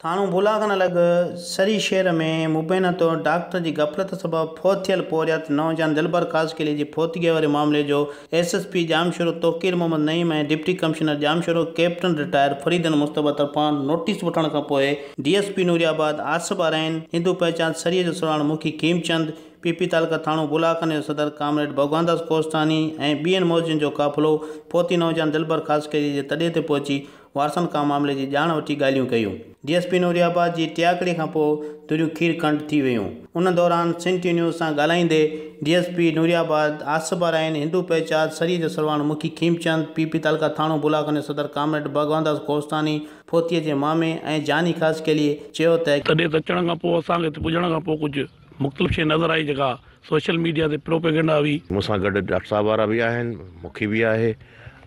ٿاڻو ڀولا کان نه لڳ سري شهر ۾ مبينا طور ڊاڪٽر جي غفلت سبب فوت ٿيل پورهيت نوجوان دلبر خاصخيلي جي فوتگيء واري معاملي جو S S P Jamshoro Tauqeer Muhammad Naeem ۽ deputy commissioner Jamshoro captain retired Farid Almustafa طرفان نوٽيس وٺڻ کان پوء D S P Nooriabad Asif Arain, هندو پهچان سري جو سرواڻ مکي کيم چند، پي پي تعلقه ٿاڻو ڀولا کان جو صدر ڪامريڊ ڀڳوانداس ڪوهستاني ۽ ٻين معززين جو قافلو فوتي نوجوان دلبر خاصخيلي جي تڏي تي پهچي وارثن کان معاملي جي ڄاڻ وٺي ڳالهيون ڪيون. D S P Nooriabad جي ٽياڪڙي کان پوء دوريون کير کنڊ ٿي ويون. ان دوران سنڌ ٽي نيوز سان ڳالهائيندي D S P Nooriabad Asif Arain, هندو پهچاد سري جو سرواڻ مکي کيمچند، پي پي تعلقه ٿاڻو بولاخان جو صدر ڪامريڊ ڀڳوانداس ڪوهستاني، ڦوتيء جي مامي ۽ جاني خاصخيليء چيو ته، تڏي ته اچڻ کان پوء اسان کي هتي پڄڻ کان پوء ڪجهه. مختلف شيء نظر آئي جيڪا سوشل ميڊيا تي پروپيگنڊا هئي. مون سان گڏ ڊاڪٽر صاحب وارا به آهن مکي به آهي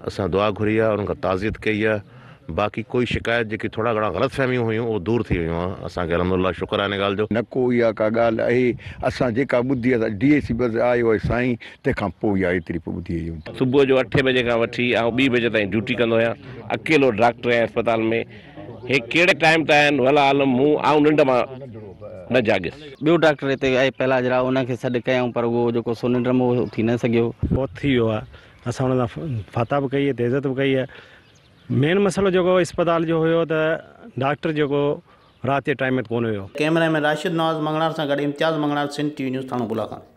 اسان دعا گهري آهي انهن کان تعزيت ڪئي آهي باقي ڪوئي شڪايت جيڪي ٿورا گهڻا غلط فهميون هيون اهو دور ٿي ويون آهن اسان کي الحمدلله شڪر آهي ان ڳالهه جو. نه ڪو اها ڪا ڳالهه اهي اسان جيڪا ٻڌي آهي سا ڊي اي سي بس آيو آهي سائين تنهن کان پوء اها ايتري پوء ٻڌي آهي يونٽ. صبح جو اٺين بجي کان وٺي آئون ٻي بجي تائين ڊيوٽي ڪندو آهيان اڪيلو ڊاڪٽر آهيان اسپتال ۾. هي ڪهڙي ٽائيم تان آهن والله عالم مون آئون ننڊ مان نه جاڳيس. ٻيو ڊاڪٽر هتي آئي پهلاج راء ان کي سڏ ڪيائون پر اهو جيڪو سو ننڊ ۾ هو اٿي نه سگهيو. فوت ٿي ويو آهي اسان ان سان فاتح به ڪئي ته عزت به ڪئي آهي مين مسئلو جيڪو اسپتال جو هيو ته ڊاڪٽر جيڪو رات جي ٽائيم تي ڪونه هيو. ڪئميرا مين راشد نواز مڱڻهار سان گڏ Imtiaz Manganhar Sindh T V news ٿاڻو گل آ خان.